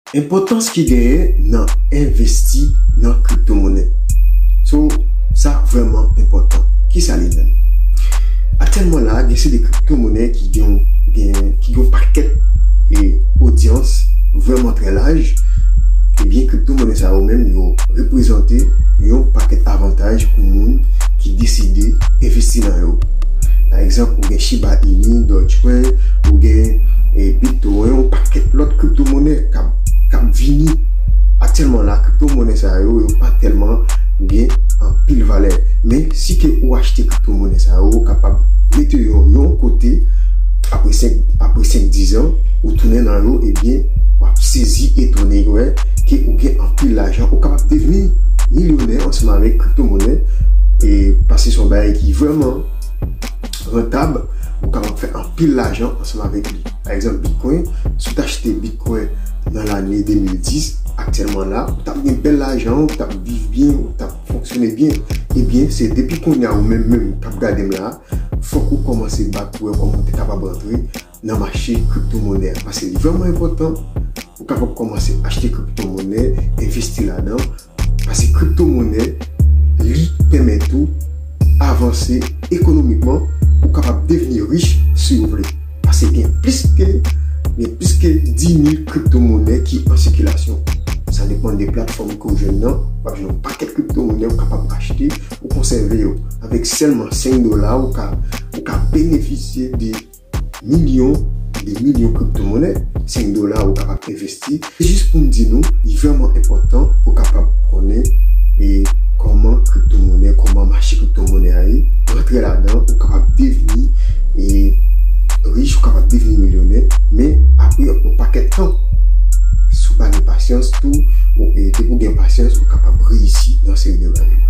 Enpòtans ki genyen nan envesti nan kriptomonè. So, sa vrèman enpòtan. Ki sa li menm? Aktyèlman la, gen seri de kriptomonè ki gen yon ki gen yon pakèt odyans vrèman trè laj, ebyen kriptomonè sa yo menm yo reprezante yon pakèt avantaj pou moun ki deside envesti nan yo. Pa egzanp, ou gen Shiba Inu, Dogecoin, ou gen Bit. Te wè yon pakèt lòt kripto monè kap kap vini. Aktyèlman la kripto monè sa yo yo pa tèlman gen anpil valè. Men si ke ou achte kripto monè sa yo ou kapab mete yo yon kote apre 5 apre 5 10 an ou tounen nan yo ebyen wap sezi etone wè ke ou gen anpil lajan ou kapab devni milyonè ansanm avèk kripto monè e pase son bagay ki vrèman rantab ou kapab fè anpil lajan ansanm avèk li. Pa egzanp Bitcoin, si w t achte Bitcoin nan lane 2010, aktyèlman la, ou t ap gen bèl lajan, ou t ap viv byen, ou t ap fonksyone byen. Ebyen, se depi kounye a ou menm menm k ap gade m la, fòk ou kòmanse bat pou wè kòman ou te kapab rantre nan mache kripto monè a. Paske li vrèman enpòtan pou w kapab kòmanse achte kripto monè, envesti ladan, Pase kripto monè, li pèmèt ou avanse ekonomikman, ou kapab devni rich si ou vle. Pase gen plis ke gen plis ke 10 mil kripto monè ki an sikilasyon. Sa depan de platfòm ke ou jwenn nan, wap jwenn yon pakèt kripto monè ou kapab achte ou konsève yo. Avèk sèlman 5 dola ou ka ou ka benefisye de. Milyon e de milyon kriptomonnen, se yon dola ou kapab envesti. Se jis pou m di nou, li vrèman enpòtan pou kapab konnen e kòman kriptomonnen, kòman mache kriptomonnen a ye. Rantre ladan, ou kapab devni e rich, ou kapab devni milyonè. Men, apre yon pakèt tan, si w pa gen pasyans tou, depi w gen pasyans, ou kapab reyisi nan yon seri de bagay.